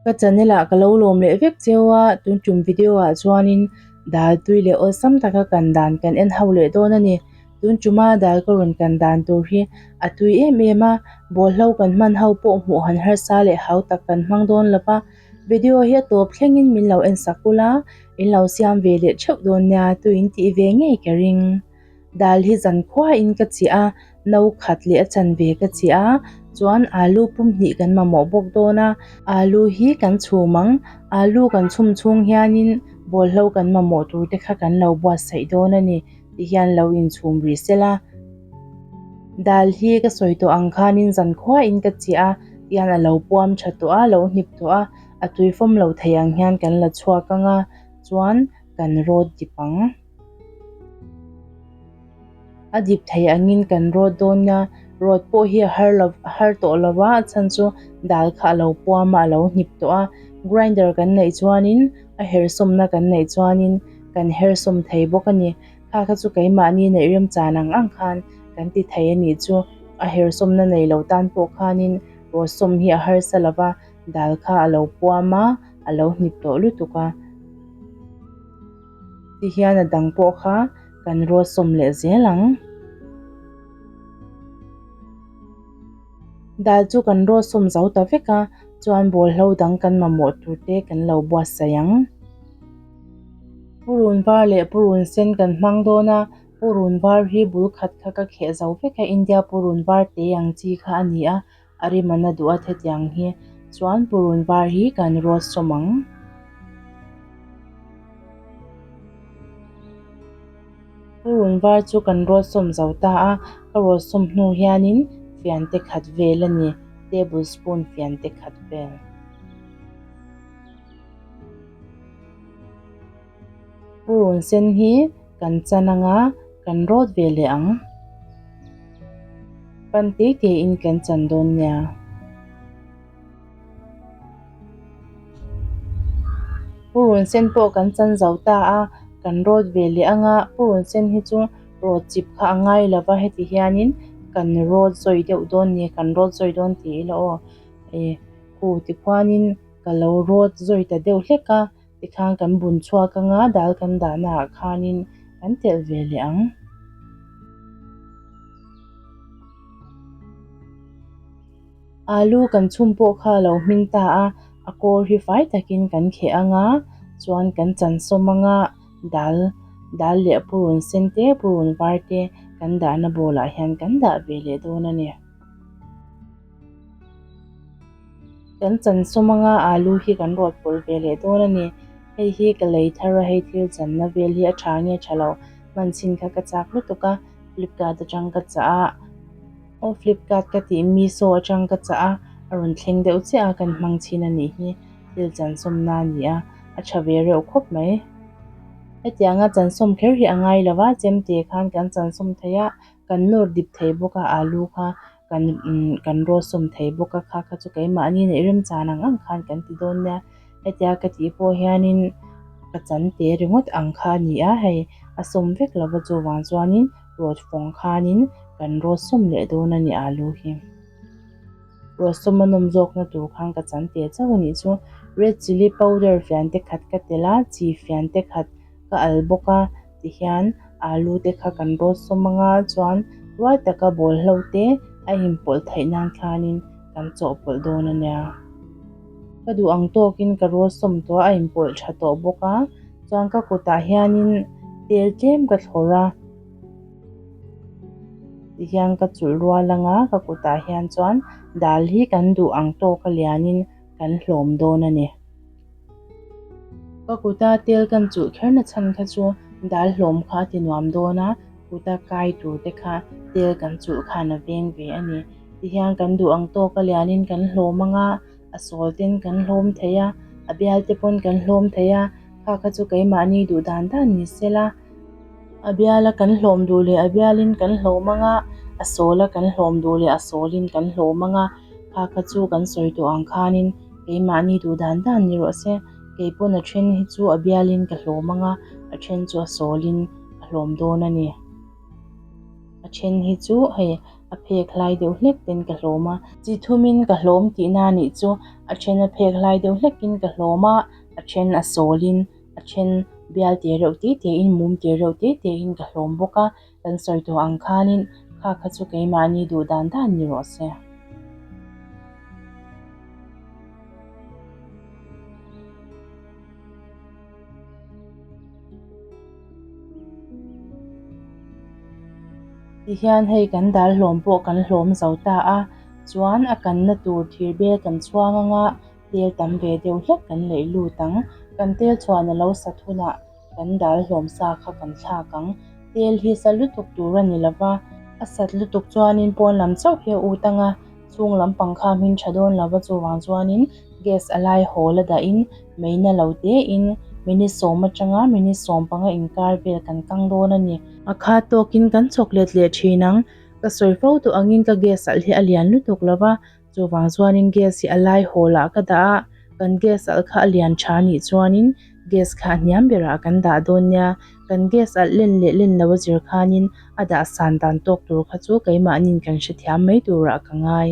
Ka channel ah ka lo lawm leh vek cheu a, tun tum video ah chuanin daltui leh awlsam taka kan dan kan en ho leh dawn a ni. Tun tuma dal ka rawn kan dan tur hi a tui em em a, bawlhlo kan hman ho pawh hmuh han harsa leh hau tak kan hmang dawn lo va. Video hi a tawp thlengin min lo en sak kul a, in lo siam ve leh theuh dawn nia tuiin tih ve ngei ka ring. Dal hi zan khuain ka chih a, no khat leh a chan ve ka chih a, chuan alu pum hnih kan mamawh bawk dawn a, alu hi kan chhum ang, alu kan chhum chhung hianin bawlhlo kan mamawh tur te kha kan lo buatsaih dawn a ni. tih hian lo inchhum rih sel a, dal hi ka sawi tawh ang khanin zan khuah in ka cheh a tih hian a lo puam tha tawh a, a lo hnip tawh a, a tui fawm lo thei ang hian kan la chhuak ang a, chuan kan rawt dip ang. A dip thei angin kan rawt dawn nia, rawt pawh hi a har lo a har tawh lo va, a chhan chu dal kha a lo puam a, a lo hnip tawh a, grinder kan neih chuanin. a herhsawmna kan neih chuanin kan herhsawm thei bawk a ni. Kha kha chu keimahni neih rem chan ang ang khan kan ti thei a nih chu. A herhsawmna nei lo tan pawh khanin Rawsawm hi a harsa lo va, dal kha a lo puam a, a lo hnip tawh lutuk a. Ti hian a dang pawh kha kan rawsawm leh zel ang. Dal chu kan rawt sawm zo ta vek a, chuan bawlhlo dang kan mamawh tur te kan lo buatsaih ang. Purun var leh purun sen kan hmang dawn a, purun var hi bul khat kha ka kheh zo vek a, India purun var te ang chi kha a ni a, a rim an a duh a thetiang hi, chuan purun var hi kan rawt sawm ang. Ka run var chu kan rawt sawm zo ta a, ka rawt sawm hnu hianin fian te khat vel a ni, table spoon fian te khat vel. Ka run sen hi kan chan anga kan rawt ve leh ang, pan tei tei in kan chan dawn nia. Purun sen pawh kan chan zo ta a, kan rawt ve leh ang a, purun sen hi chu rawt chip kha a ngai lo va, heti hianin kan rawt zawi deuh dawn ni, kan rawt zawi dawn tih ila aw, e khuh tikhuanin ka lo rawt zawi ta deuh hlek a, Tikhang kan bun chhuak anga dal kan dah naah khanin kan telh ve leh ang. Alu kan chhum pawh kha lo hming ta a, a kawr hi fai takin kan kheh anga chuan kan chansawm anga dal dal leh purun sen te purun var te kan dahna bawlah hian kan dah ve leh dawn a ni. Kan chansawm anga alu hi kan rawt pawlh ve leh dawn a ni. Hei hi ka lei thar a, hei thil channa vel hi a tha nge tha lo. Hman sin kha ka chak lutuk a, Flipkart atang ka chah a. Aw Flipkart ka tih Miso atang ka chah a, a rawn thleng deuh chiah a kan hmang chin a nih hi, thil chansawmna a nia, a tha ve reuh khawp mai. Hetianga chansawm kher hi a ngai lo a, Chemte khan kan chansawm thei a, kan nawr dip thei bawk a alu kha. kan kan rawsawm thei bawk a kha kha chu keimahni neih rem chan ang ang khan kan ti dawn nia hetia ka tih pawh hianin ka chan te ringawt ang kha a ni a hei a sawm vek lova chuvang chuanin rawtfawng khanin kan rawsawm leh dawn a ni a lu hi rawsawm a nawm zawkna tur khan ka chan teh chauh a nih chu red chilli powder fian te khat ka telh a chi fian te khat ka al bawk a. ti hian alu te kha kan rawn sawm anga chuan ruai taka bawlhlo te a inpawlh theih nan khanin kan chawhpawlh dawn a nia. Ka duh ang tawkin ka rual sawm tawh a inpawlh tha tawh bawk a, chuan ka kutah hianin tel tlem ka thlawrh a ti hian ka chulh rual anga ka kutah hian chuan dal hi kan duh ang tawka lianin kan hlawm dawn a ni. Ka kuta tel kan chuh kher na chhan kha chu dal hlawm kha a ti nuam dawn a, kuta kai tur te kha tel kan chuh khan a veng ve a ni. Ti hian kan duh ang tawk a lian in kan hlawm ang a, a sawl ten kan hlawm theih a, a bial te pawn kan hlawm theih a, kha kha chu keimahni duh dan dan ni se la, a bial a kan hlawm duh leh a bial in kan hlawm ang a, a sawl a kan hlawm duh leh a sawl in kan hlawm ang a. Kha kha chu kan sawi tawh ang khanin keimahni duh dan dan ni rawh se, kei pawn a then hi chu a bialin ka hlawm ang a, a then chu a sawlin ka hlawm dawn a ni. A then hi chu hei a phek hlai deuh hlek ten ka hlawm a. Chi thumin ka hlawm tih na nih chu a then a phek hlai deuh hlekin ka hlawm a, a then a sawlin, a then bial tel reuh te tein, mum tel reuh te tein ka hlawm bawk a. Kan sawi tawh ang khanin kha kha chu keimahni duh dan dan ni rawh se. Tihian hei kan dal hlawm pawh kan hlawm zo ta a, chuan a kanna tur thir bel kan chhuang anga tel tam ve deuh hlek kan leh lut ang. Kan tel chhuahna lo sat hunah. Kan dal hlawm sa kha kan thlak ang. Tel hi sat lutuk tur a ni lo va, a sat lutuk chuanin pawn lam chauh hi a ut ang a, chhung lam pangkha hmin tha dawn lo va, chuvang chuanin gas a lai hawl a dahin meina lo tein minute sawm atanga minute sawm panga inkar vel kan kang dawn a ni. A kha tawkin kan chawk let leh thin ang, ka sawi fo tawh angin ka gas salh hi a lian lutuk lo va, Chuvang chuanin gas hi a lai hawlah ka dah a, kan gas alh kha a lian tha a nih chuanin gas kha a hniam berah kan dah dawn nia, kan gas alh len leh len lo a zir khanin a dah san dan tawk tur kha chu keimahnin kan hrethiam mai turah ka ngai.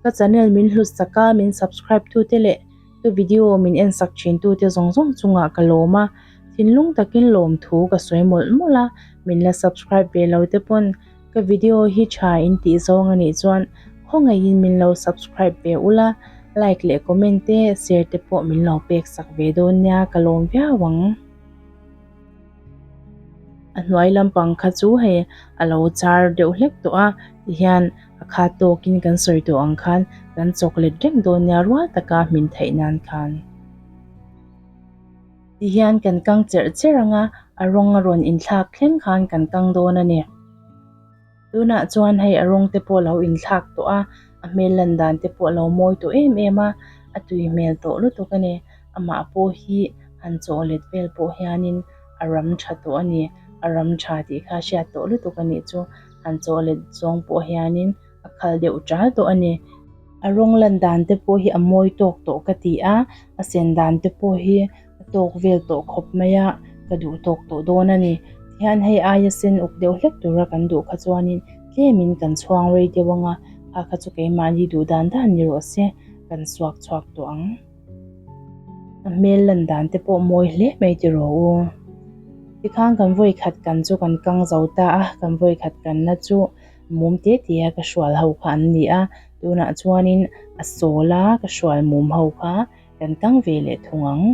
Ka channel min hlusak a, min subscribe tute leh ka video min en sak thin tute zawng zawng chungah ka lawm a, thinlung takin lawmthu ka sawi mawlh mawlh a, min la subscribe ve lo te pawn. Ka video hi tha in tih zawng a nih chuan khawngaih in min lo subscribe ve ula, like leh comment te share te pawh min lo pek sak ve dawn nia ka lawm viau ang. A hnuai lampang kha chu hei a lo char deuh hlek tawh a, tihian a khat tawk in kan sawi tawh ang khan kan chawk let reng dawn nia rual taka hmin theih nan khan. Ti hian kan kang cherh cherh ang a, a rawng a rawn inthlak thleng khan kan kang dawn a ni. Tunah chuan hei a rawng te pawh lo inthlak tawh a, a hmel lan dan te pawh lo mawi tawh em em a, a tui hmel tawh lutuk a ni. Amah pawh hi han chaw let vel pawh hianin a ram tha tawh a ni, a ram tha tih kha a hriat tawh lutuk a nih chu. Han chaw let zawng pawh hianin. a khal deuh tal tawh a ni. A rawng lan dan te pawh hi a mawi tawk tawh ka ti a, a sen dan te pawh hi a tawk vel tawh khawp mai a, ka duh tawk tawh dawn a ni. Tihian hei aia sen uk deuh hlek tura kan duh kha chuanin tlemin kan chhuang rei deuh ang a, kha kha chu keimahni duh dan dan ni rawh se kan suak chhuak tawh ang. A hmel lan dan te pawh mawi hle mai ti rawh u. Tikhan kan vawi khat kan chu kan kang zo ta a, kan vawi khat kanna chu Mum te te a ka hrual ho kha an ni a, tunah chuanin a sawl a, ka hrual mum ho kha kan tang ve leh thung ang.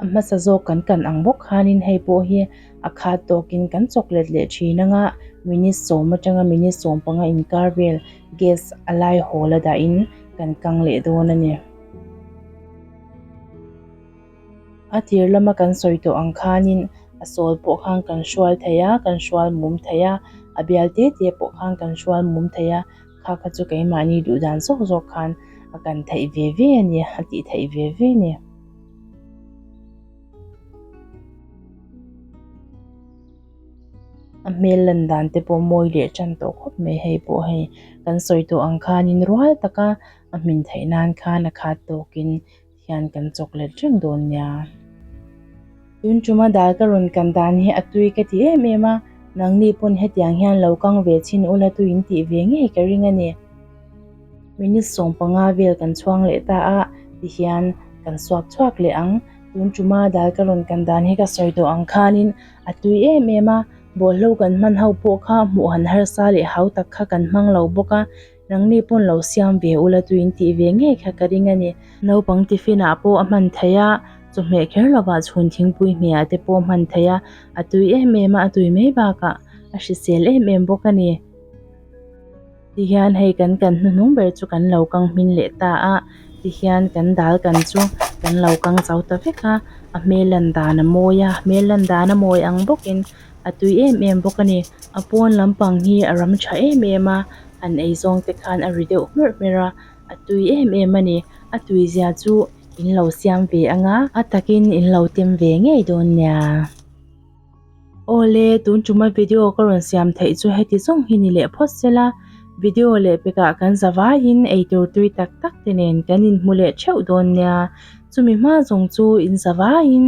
A hmasa zawk kan kan ang bawk khanin hei pawh hi a khat tawkin kan chawk let leh thin anga minute sawm atanga minute sawm panga inkar vel gas a lai hawl a dahin kan kang leh dawn a ni. A tir lama kan sawi tawh ang khanin a sawl pawh khan kan hrual thei a, kan hrual mum thei a, a bial te te pawh khan kan hrual mum thei a, kha kha chu keimahni duh dan zawk zawk khan a kan theih ve ve a ni, a tih theih ve ve a ni. A hmel lan dan te pawh mawi leh tan tawh khawp mai hei pawh hei, kan sawi tawh ang khanin rual taka a hmin theih nan khan a khat tawkin. hian kan chawk let reng dawn nia. Tun ṭuma dal ka rawn kan dan hi a tui ka ti em em a, nangni pawn hetiang hian lo kang ve chin u la tu in tih ve ngei ka ring a ni. Minute sawm panga vel kan chhuang leh ta a ti hian kan suak chhuak leh ang. Tun ṭuma dal ka rawn kan dan hi ka sawi tawh ang khanin a tui em em a, bawhlo kan hman ho pawh kha hmuh han harsa leh hau tak kha kan hmang lo bawk a. Nangni pawn lo siam ve ula tuin tih ve ngei kha ka ring a ni. Naupang tiffin ah pawh a hman thei a, chawhmeh kher lovah chhun thingpui hmeh ah te pawh a hman thei a, a tui em em a, a tui mai bakah a hrisel em em bawk a ni. Tihian hei kan kan hnuhnung ber chu kan lo kang hming leh ta a, tihian kan dal kan chu kan lo kang chau ta vek a, a hmel lan dan a mawi a, hmel lan dan a mawi ang bawkin. a tui em em bawk a ni a pawn lampang hi a ram tha em em a an eizawng te khan a ri deuh hmer hmer a a tui em em a ni a tui zia chu in lo siam ve ang a a takin in lo tem ve ngei dawn nia awle tun ṭuma video ka rawn siam theih chu heti zawng hi ni leh phawt sel a video leh pekah kan za vaiin eitur tui tak tak te nen kan in hmu leh ṭheuh dawn nia chumi hma zawng chu in za vaiin.